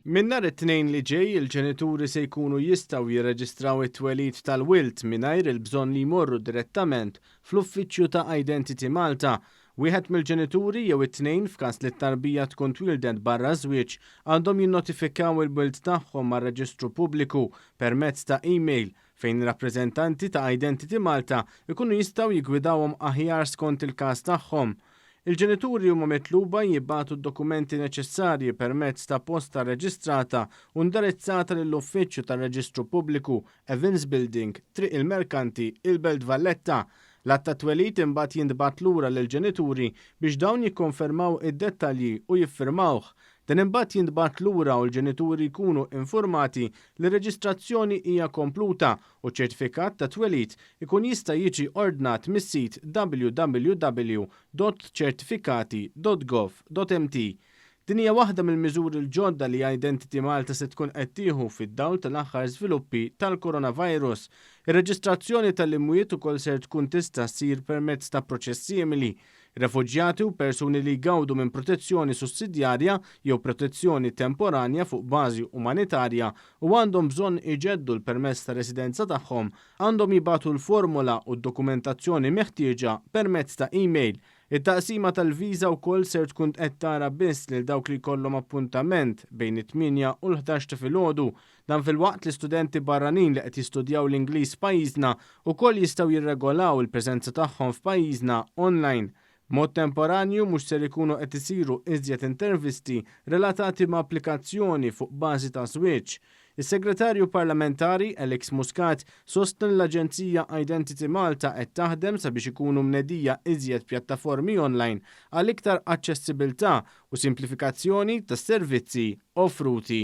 Minn nhar it-Tnejn li ġej, il-ġenituri se jkunu jistgħu jirreġistraw it-twelid tal-wild mingħajr il-bżonn li jmorru direttament fl-uffiċċju ta' Identity Malta. Wieħed mill-ġenituri jew it-tnejn, f'każ li t-tarbija tkun twieldet barra ż-żwieġ, għandhom jinnotifikaw il-wild tagħhom mar-reġistru pubbliku permezz ta' email fejn rappreżentanti ta' Identity Malta jkunu jistgħu jiggwidawhom aħjar skont il-każ tagħhom. Il-ġenituri huma mitluba jibagħtu d-dokumenti neċessarji permezz ta' posta rreġistrata u ndirizzata lill-Uffiċċju tar-Reġistru Pubbliku, Evans Building, Triq il-Merkanti, il-Belt Valletta. L-Att tat-Twelid imbagħad jintbagħat lura lill-ġenituri biex dawn jikkonfermaw id-dettalji u jiffirmawh. Dan imbagħad jintbagħat lura u l-ġenituri jkunu infurmati li r-reġistrazzjoni hija kompluta u ċ-ċertifikat ta' twelid ikun jista' jiġi ordnat mis-sit www.certificati.gov.mt. Din hija waħda mill-miżuri l-ġodda li Identity Malta se tkun qed tieħu fid-dawl tal-aħħar żviluppi tal-Coronavirus. Ir-reġistrazzjoni tal-imwiet ukoll ser tkun tista' ssir permezz ta' proċess simili, Refuġjati u persuni li jgawdu minn protezzjoni sussidjarja jew protezzjoni temporanja fuq bażi umanitarja u għandhom bżonn iġeddu l-permess ta' residenza tagħhom għandhom jibagħtu l-formola u d-dokumentazzjoni meħtieġa permezz ta' email. It-taqsima tal-viża wkoll ser tkun qed tara biss lil dawk li jkollhom appuntament bejn it-tmienja u l-ħdax ta' filgħodu Dan filwaqt li studenti barranin li qed jistudjaw l-Ingliż f'pajjiżna wkoll jistgħu jirregolaw il-preżenza tagħhom f'pajjiżna online. B'mod temporanju mhux ser ikunu qed isiru iżjed intervisti relatati ma' applikazzjoni fuq bażi ta' żwieġ. Is-Segretarju Parlamentari, Alex Muscat, sostna li l-aġenzija Identity Malta qed taħdem sabiex ikunu mnedija iżjed pjattaformi online għal iktar aċċessibiltà u simplifikazzjoni tas-servizzi offruti.